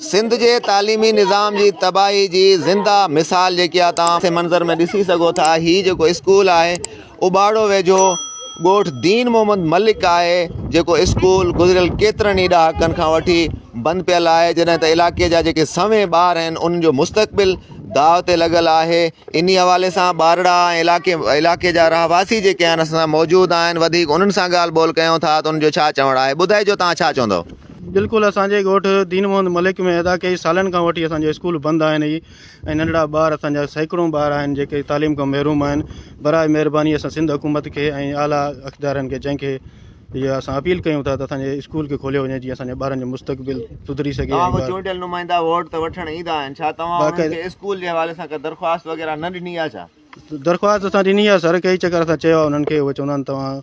سنڌ جي تعليمي نظام جي تباهي جي زنده مثال جيڪي آ تان سي منظر ۾ ڏسي سگهو ٿا هي جيڪو اسڪول آهي اباڙو ويجهو ڳوٺ دين محمد ملڪ آهي جيڪو اسڪول گذريل ڪيترن ئي ڏهاڪن کان وٺي بند پيل آهي جڏهن ته علائقي جا جيڪي سوين ٻار آهن انهن جو مستقبل داء تي لڳل آهي انهي حوالي سان ٻارڙا ۽ علائقي علائقي جا رهواسي جيڪي آهن اسان سان موجود آهن وڌيڪ انهن سان ڳالهه ٻولهه ڪيون ٿا ته انهن جو ڇا چوڻ آهي ٻڌائجو تان ڇا چوندو. بلڪل اسان جي ڳوٺ دين محمد ملڪ ۾ ادا ڪئي سالن کان وٺي اسان جا اسڪول بند آهن هي ۽ ننڍڙا ٻار اسان جا سيڪڙون ٻار آهن جيڪي تعليم کان محروم آهن براء مهرباني اسان سنڌ حڪومت کي ۽ اعليٰ اقدارن کي جنهن کي اها اسان اپيل ڪيون ٿا ته اسان جي اسڪول کي کوليو وڃي جيئن اسان جي ٻارن جو مستقبل سڌري سگهي توهان کي چونڊيل نمائندا ووٽ ته وٺڻ ايندا آهن ڇا توهان انهن کي اسڪول جي حوالي سان ڪا درخواست وغيره نه ڏني آهي ڇا درخواست اسان ڏني آهي سر ڪئي چڪر اسان چيو آهي انهن کي اهي چوندا آهن توهان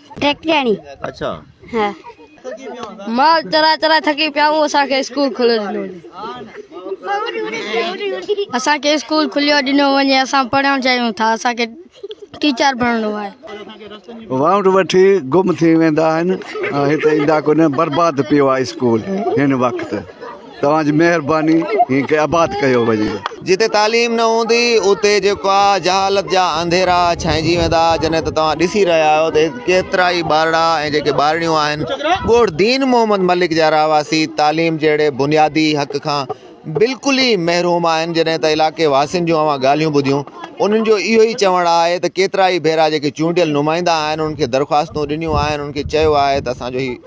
ٽيڪٽياڻي اڇا ها مال ترا ترا ٿڪي پيا هو اسان کي اسڪول کليو ڏنو اسان کي اسڪول کليو ڏنو وڃي اسان پڙهڻ چاهيون ٿا اسان کي ٽيچر بڻڻو آهي واؤنڊ وٺي گم ٿي ويندا آهن هتي ايندا ڪونه برباد پيو آهي اسڪول هن وقت توهان جي مهرباني هي کي آباد ڪيو وڃي. جتي تعليم نه هوندي اتي جيڪو آ جهالت جا انڌيرا ڇانئجي ويندا جڏهن ته توهان ڏسي رهيا آهيو ته هت ڪيترا ئي ٻارڙا ۽ جيڪي ٻارڙيون آهن ڳوٺ دين محمد ملڪ جا رهواسي تعليم جهڙي بنيادي حق کان بلڪل ئي محروم آهن جڏهن ته علائقي واسين جون اوهان ڳالهيون ٻڌيون انهن جو اهو ئي چوڻ آهي ته ڪيترا ئي ڀيرا جيڪي چونڊيل نمائندا آهن انهن کي درخواستون ڏنيون آهن انهن کي چيو آهي ته اسان جو هي